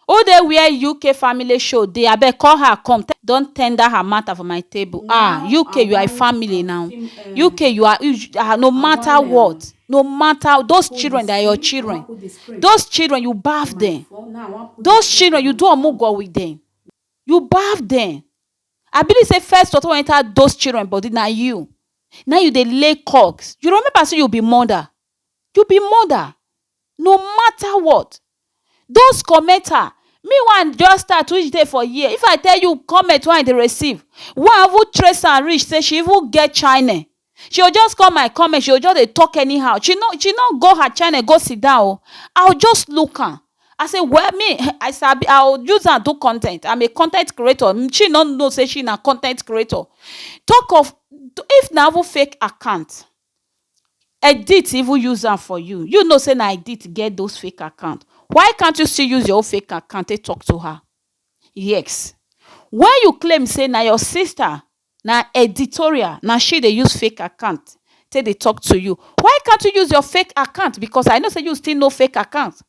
Who dey where UK family show dey abeg call her come tell don tender her matter for my table ah UK you are a family now UK you are ah no matter what no matter those children they are your children those children you baff them those children you do omugo with them you baff them I believe say first water wey enter those children body na you na you dey lay cogs you remember say you be mother You be mother no matter what Those commenter Me wey I just start which dey for here If I tell you comment wey I dey receive Wey I even trace am reach say she even get channel She go just come my comment she go just dey talk anyhow She no she no go her channel go sit down o I go just look am I say well me I sabi I go use am do content I'm a content creator She no know say she na content creator Talk of If na even fake account Edit even use am for you, you know say na Edit get those fake account, why can't you still use your own fake account take talk to her? Yes, when you claim say na your sister, na Editorial, na she dey use fake account take dey talk to you, why can't you use your fake account because I know say you still know fake account,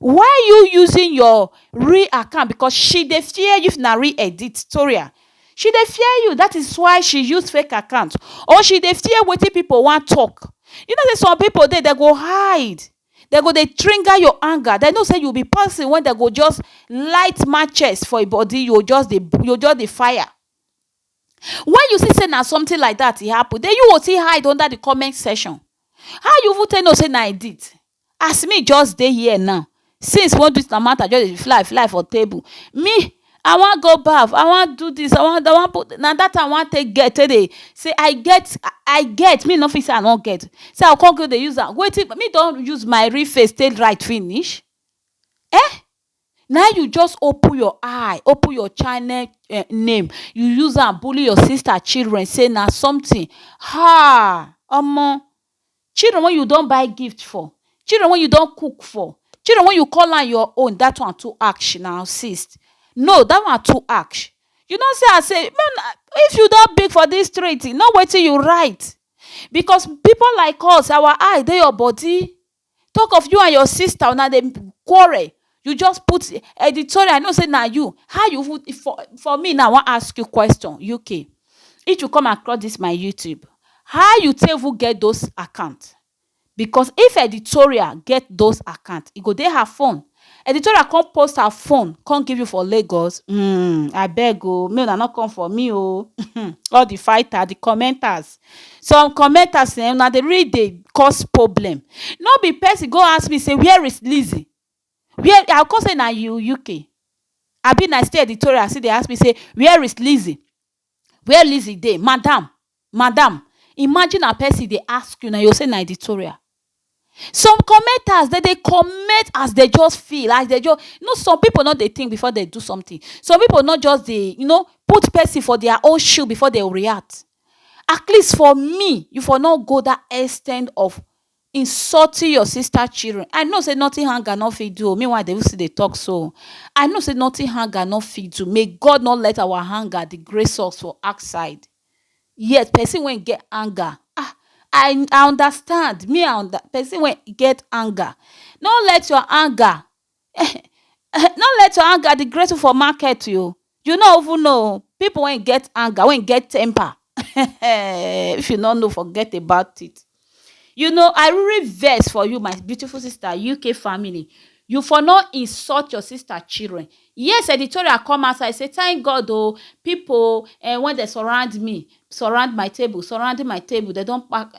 Why you using your real account because she dey fear you if na real editorial she dey fear you that is why she use fake account or she dey fear wetin people wan talk you know say some people dey dem go hide dem go dey trigger your anger dem know say you be person wey dem go just light matches for your body you go just dey you go just dey fire when you see say na something like that e happen then you go still hide under the comment section how you even take know say na edit as me just dey here now since we wan do dis our matter just dey fly fly for table me I wan go baff I wan do dis I wan do I wan put na dat time I wan take get take dey say I get I get me no fit say I no get say I go come go dey use am wetin me don use my real face take write finish um na him you just open your eye open your channel um name you use am bully your sister children say na something um omo children wey you don buy gift for, children wey you don cook for, children wey you call am your own dat one too ash na assist no dat one too ash you know say I say make una if you don big for dis street know wetin you write because people like us our eye dey your body Talk of you and your sister una dey quarrel you just put editorial I know say na you how you even for for me now I wan ask you question UK if you come across this my YouTube how you take even get those account because if editorial get those account e go dey her phone Editorial come post her phone come give you for Lagos um abeg o make una no come for me o um all the fighter the commenters some commenters um na dey really dey cause problem no be person go ask me say where is Lizzy where I go come say na you UK abi na still editorial still dey ask me say where is Lizzy Where Lizzy dey? Madam! Madam! Imagine na person dey ask you na, you go say na editorial. Some commenters dem dey comment as dem just feel, as dem just, you know some people no dey think before dem do something. Some people no just dey, you know, put person for their own shoe before dem react. At least for me, you for no go that extent of insulting your sister children i know say nothing hunger no fit do o meanwhile they still dey talk so i know say nothing hunger no fit do may God no let our hunger disgrace us for outside yes person wey get anger ah i i understand me i under person wey get anger no let your anger No let your anger dey great for market oh, you no even know oh, pipu wey get anger wey get temper if you no know forget about it, you know I really vex for you my beautiful sister UK family, you for no insult your sister children, yes editorial come outside sey thank God oh, pipu wey dey surround me, surround my table, surrounding my table, dem don pack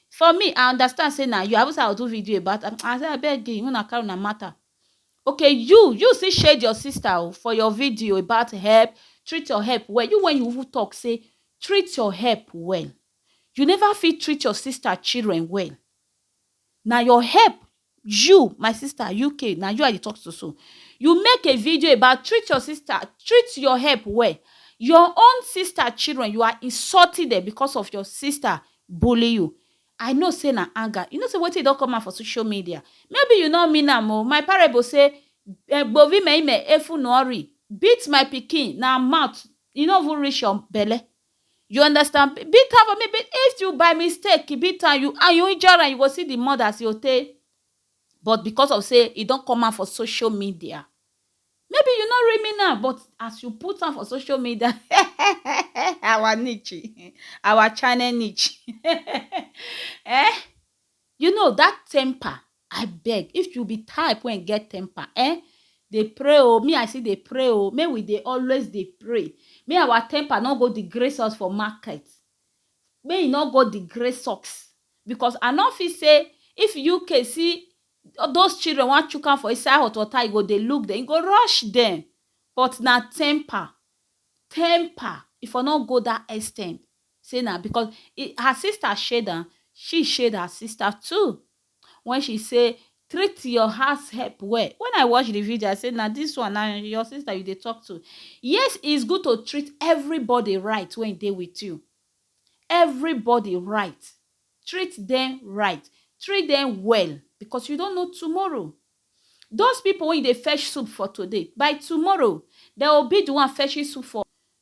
For me I understand say na you, I even say I will do video about am, I say abeg make una carry una matter, okay you, you still shade your sister o for your video about herb, treat your herb well, you wey you even talk say treat your herb well, you never fit treat your sister children well, na your herb You my sister UK na you I dey talk to so you make a video about treat your sister treat your help well your own sister children you are insulting them because of your sister bully you I know say na anger you know say wetin don come out for social media maybe you no mean am o my parable say gbovi me ime efu no ori beat my pikin na mouth e no even reach your belle You understand? Be- Beat am for me. Be- If you by mistake beat am you and you injure am, you go see the mother as you take. But because of say e don come out for social media, maybe you no read me now, but as you put am for social media, our niche, our channel niche, eh? You know that temper abeg if you be type wey get temper eh dey pray oh me I still dey pray oh make we dey always dey pray make our temper no go disgrace us for market make e no go disgrace us because I no fit say if UK see those children wan chook hand for inside hot water e go dey look dem e go rush dem but na temper, temper e for no go that extent. say na because her sister shade am, she shade her sister too when she say treat your house help well, when I watch the video I say na this one na your sister you dey talk to, yes is good to treat everybody right wey dey with you, everybody right, treat them right, treat them well because you don't know tomorrow, those people wey you dey fetch soup for today by tomorrow dem go be the one fetching soup for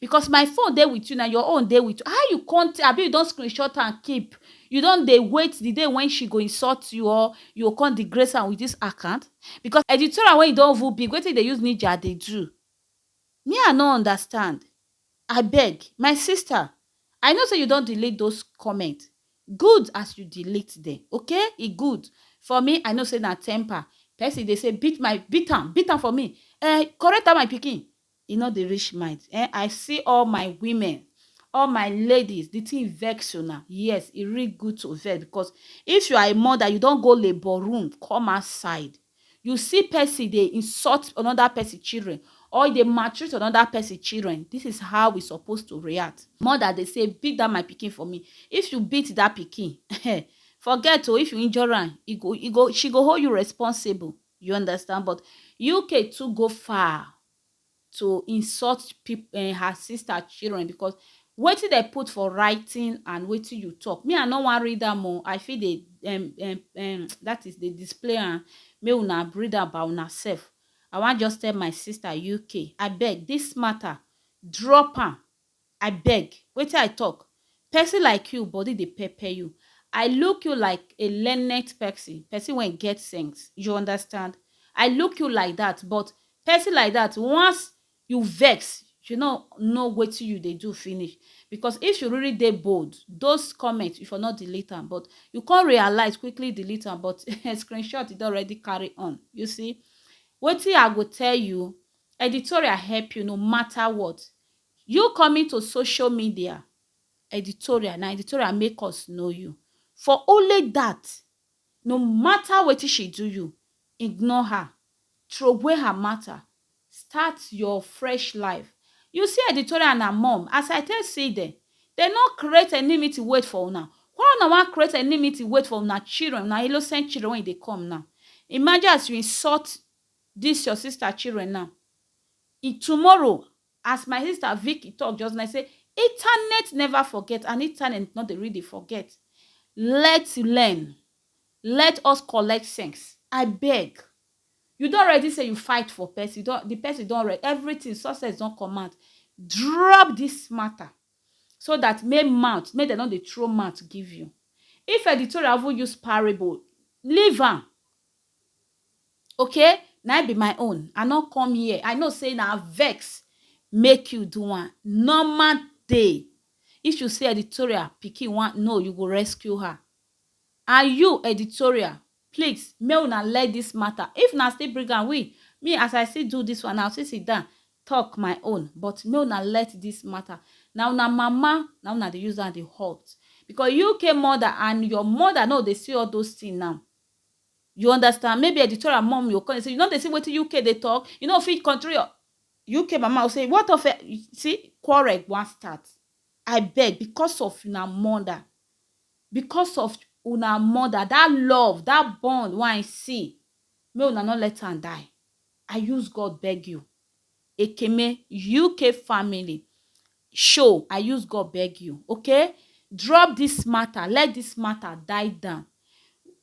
Because my phone dey with you na your own dey with how you come abi you don screenshot and keep you don dey wait the day when she go insult you or you go come disgrace am with this account because editorial when you don even big wetin you dey use ninja dey do me I no understand abeg my sister I know say you don delete those comment good as you delete them okay e good for me I know say na temper person dey say beat my beat am beat am for me eh correct am my pikin E no dey reach mind eh I see all my women all my ladies the thing vex una yes e real good to vex because if you are a mother you don go labour room come outside you see person dey insult another person children or e dey maltreat another person children this is how we suppose to react mother dey say beat that my pikin for me if you beat that pikin forget o if you injure am e go e go she go hold you responsible You understand but UK too go far to insult people eh, her sister children because wetin dem put for writing and wetin you talk me i no wan read am o i fit dey um, um, um, that is dey display am make una read am by una sef i wan just tell my sister uk abeg this matter drop am I beg, wetin I talk? Person like you, body dey pepper you. I look you like a learned person, person wey get sense, you understand? I look you like that, but person like that, once you vex, you no know wetin you dey do finish. Because if you really dey bold, those comments, you for no delete am, but you come realize, quickly delete am, but screenshot don already carry on. You see, wetin I go tell you, editorial help you no matter what. You coming to social media Editorial na editorial make us know you for only that no matter wetin she do you ignore her throway her matter start your fresh life you see Editorial na mom as I take see them dem no create enimity wait for una why una wan create enimity wait for una children una innocent children wey dey come now imagine as you insult this your sister children now tomorrow As my sister Vicky talk just now, e say Itanet never forget and Itanet no dey really forget. Let's learn, let us collect sense abeg. You don already say you fight for person, you don, the person don already, everything, success don come out, drop this matter so that make mouth, make dem no dey throw mouth give you. If editorial even use parable, leave am. Okay, na im be my own. I no come here. I know say na vex make you do am. Normal day. If you see editorial, pikin wan no, you go rescue her. And you, editorial, please, make una let this matter. If na still bring am, we, me as I see do this one, I still sit down, talk my own. But make una let this matter. Na una mama, na una dey use am dey hurt. Because you came mother and your mother no dey see all those things now. You understand? Maybe editorial mom will come and say, you no dey see wetin UK dey talk? You no fit control your UK mama will say, what of it? You See, quarrel wan start. I beg, because of una mother, because of una mother, that love, that bond wey I see, make una no let am die. I use God beg you. Ekeme UK family show I use God beg you okay drop this matter let this matter die down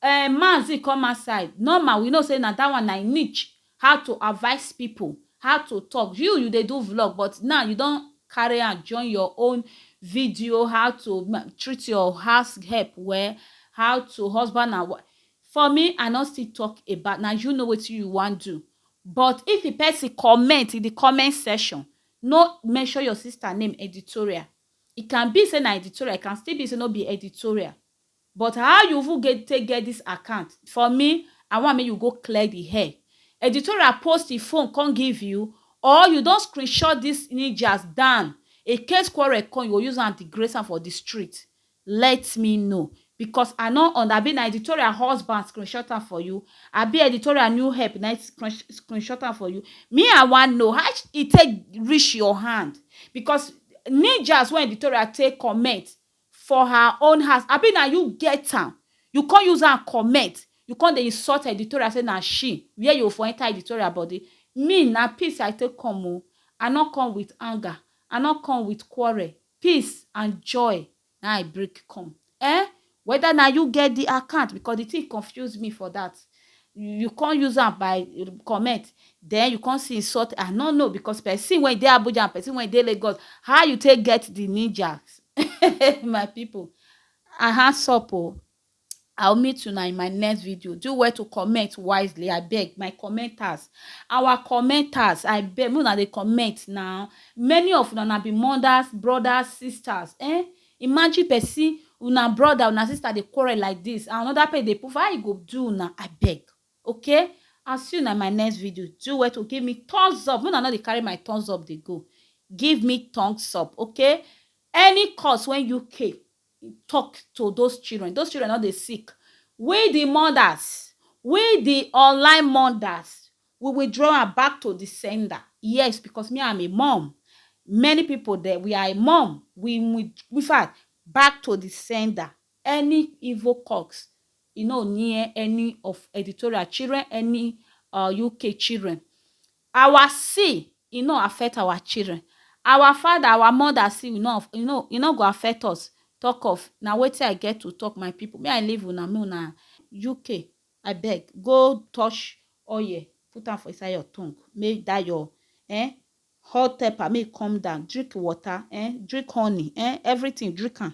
um Mazi come outside normal we know say na that one na im niche how to advise people how to talk you you dey do vlog but now you don carry am join your own video how to ma- treat your house help well how to husband and wife for me I no still talk about na you know wetin you wan do But if di pesin comment in di comment section, no mention your sister name editorial. E can be say na editorial, e can still be say no be editorial. But how you even get take get dis account? For me, I want make you go clear di air. Editorial post e phone come give you or you don screenshot dis ninjas down, in case quarrel come, you go use am degrace am for di street. Let me know because I no und abi na editorial husband screenshot am for you abi editorial new help na screenshot am for you me I wan know how e take reach your hand because ninjas wey editorial take comment for her own house abi na you get am you come use am comment you come dey insult editorial say na she where you for enter editorial body me na peace I take come o I no come with anger I no come with quarrel peace and joy na I bring come. Eh? Whether na you get the account because the thing confuse me for that. You can't use them by comment. Then you can't see insult. I don't know because person when they Abuja and person when they Lagos, how you take get the ninjas? My people, I hands up. Oh. I will meet una in my next video. Do well to comment wisely, I beg my commenters. Our commenters, I beg, una dey comment now. Many of una be mothers, brothers, sisters. Eh? Imagine person, una brother, una sister dey quarrel like this, and another person dey poof. How e go do una? I beg. Okay? I'll see you in my next video. Do well to give me thumbs up. When I know they carry my thumbs up, they go. Give me thumbs up, okay? Any cause when you came, He tok to those children, those children don dey sick, We di mothers, we di online mothers, we will draw am back to di sender. Yes, because me I am a mum, many pipo dem we are a mum, we will, in fact, back to di sender. Any evil cocks e no near any of editorial children, any um UK children. Our sin e no affect our children, our father, our mother sin e no e no e no go affect us talk of na wetin I get to talk my people me I leave una make una UK abeg go touch oil put am for inside your tongue make that your um hot temper make e come down drink water um drink honey um everything drink am